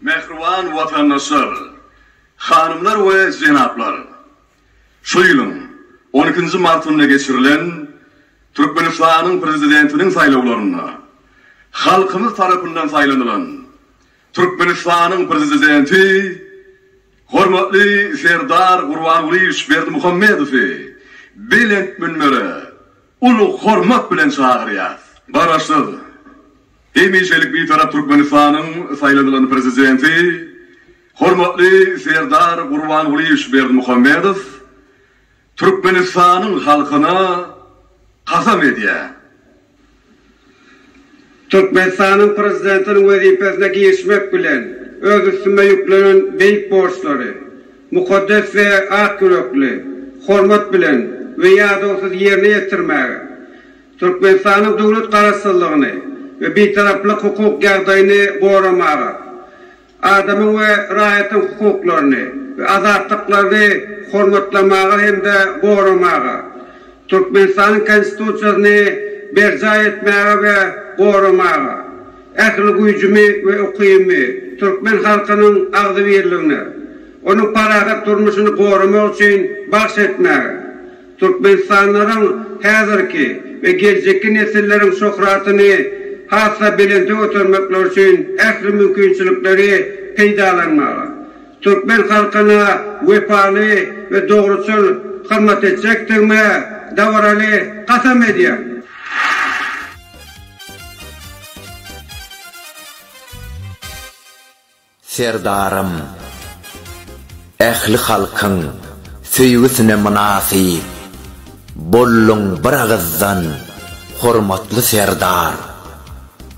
Mähriban watandaşlar, hanymlar we jenaplar! Şu ýylyň on ikinji martynda geçirilen Türkmenistanyň Prezidentiniň saýlawlarynda halkymyz tarapyndan saýlanylan Türkmenistanyň Prezidenti hormatly Serdar Gurbangulyýewiç Berdimuhamedowy belent münbere uly hormat bilen çagyrýarys. Garaşsyz, hemişelik Bitarap Türkmenistanyň saýlanylan Prezidenti, hormatly Serdar Gurbangulyýewiç Berdimuhamedow Türkmenistanyň halkyna kasam edýär. Türkmenistanyň Prezidentiniň wezipesine girişmek bilen, öz üstüme ýüklenen beýik borçlary, mukaddes we ak ýürekli, hormat bilen we ýadawsyz ýerine ýetirmäge, Türkmenistanyň döwlet Garaşsyzlygyny we Bitaraplyk hukuk ýagdaýyny goramaga, adamyň we raýatyň hukuklaryny we azatlyklaryny hormatlamaga hem-de goramaga, Türkmenistanyň Konstitusiýasyny berjaý etmäge we goramaga, ähli güýjümi we ukybymy türkmen halkynyň agzybirligine, onuň parahat durmuşyny goramak üçin bagş etmäge, Türkmenistanlylaryň häzirki we geljekki nesilleriň şöhratyny has-da belente götermekleri üçin ähli mümkinçilikleri peýdalanmaga, türkmen halkyna wepaly we dogruçyl hyzmat etjekdigime dabaraly kasam edýän. Serdarym, ähli halkyň söýgüsine mynasyp bolluň bir agyzdan hormatly Serdar!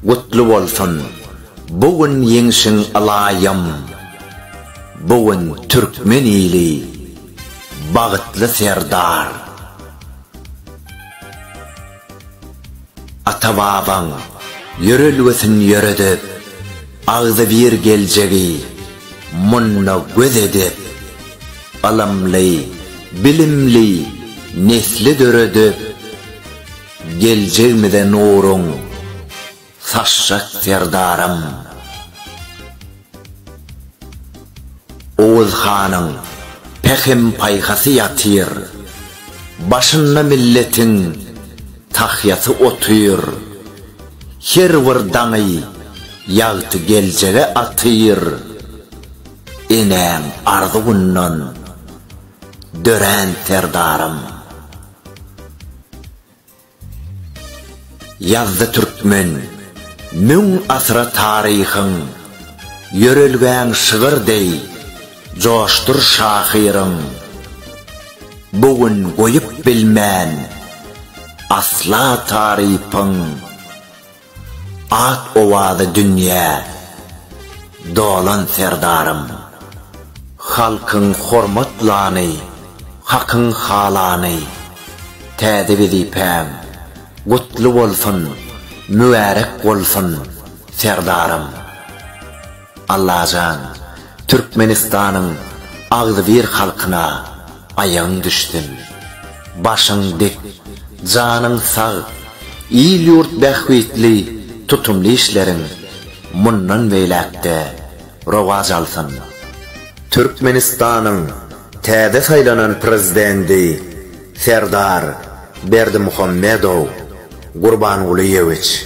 Gutly bolsun bu gün ýeňşiň ylaýym! Bu gün türkmen ili bagytly Serdar! Ata-babaň ýörelgesini ýöredip, agzybir geljegi munda göz edip, ylymly, bilimli nesli döredip, geljegimize nuruň. Saçjak serdaram. Oguz hanyň pähim-paýhasy ýatyr. Başynda milletiň tahýasy otyr. Her bir daňy ýagty geljege atyr. Enäň arzuwyndan dörän serdaram. Ýazdy türkmen, müň asyra taryhyň, Ýörelgäň şygyr deý, joşdur şahyryň. Bu gün goýup bilmen, asla tarypyň. Ak owazy dünýä dolan Serdarym. Halkyň hormatlany, hakyň halany, täze wezipäň gutly bolsun, mübärek bolsun Serdarym. Allajan Türkmenistanyň agzybir halkyna aýagyň düşsün. Başyň dik, janyň sag, il-ýurt bähbitli tutumly işleriň mundan beýläk-de rowaç alsyn. Türkmenistanyň täze saýlanan Prezidenti Serdar Berdimuhamedow Gurbangulyýewiç.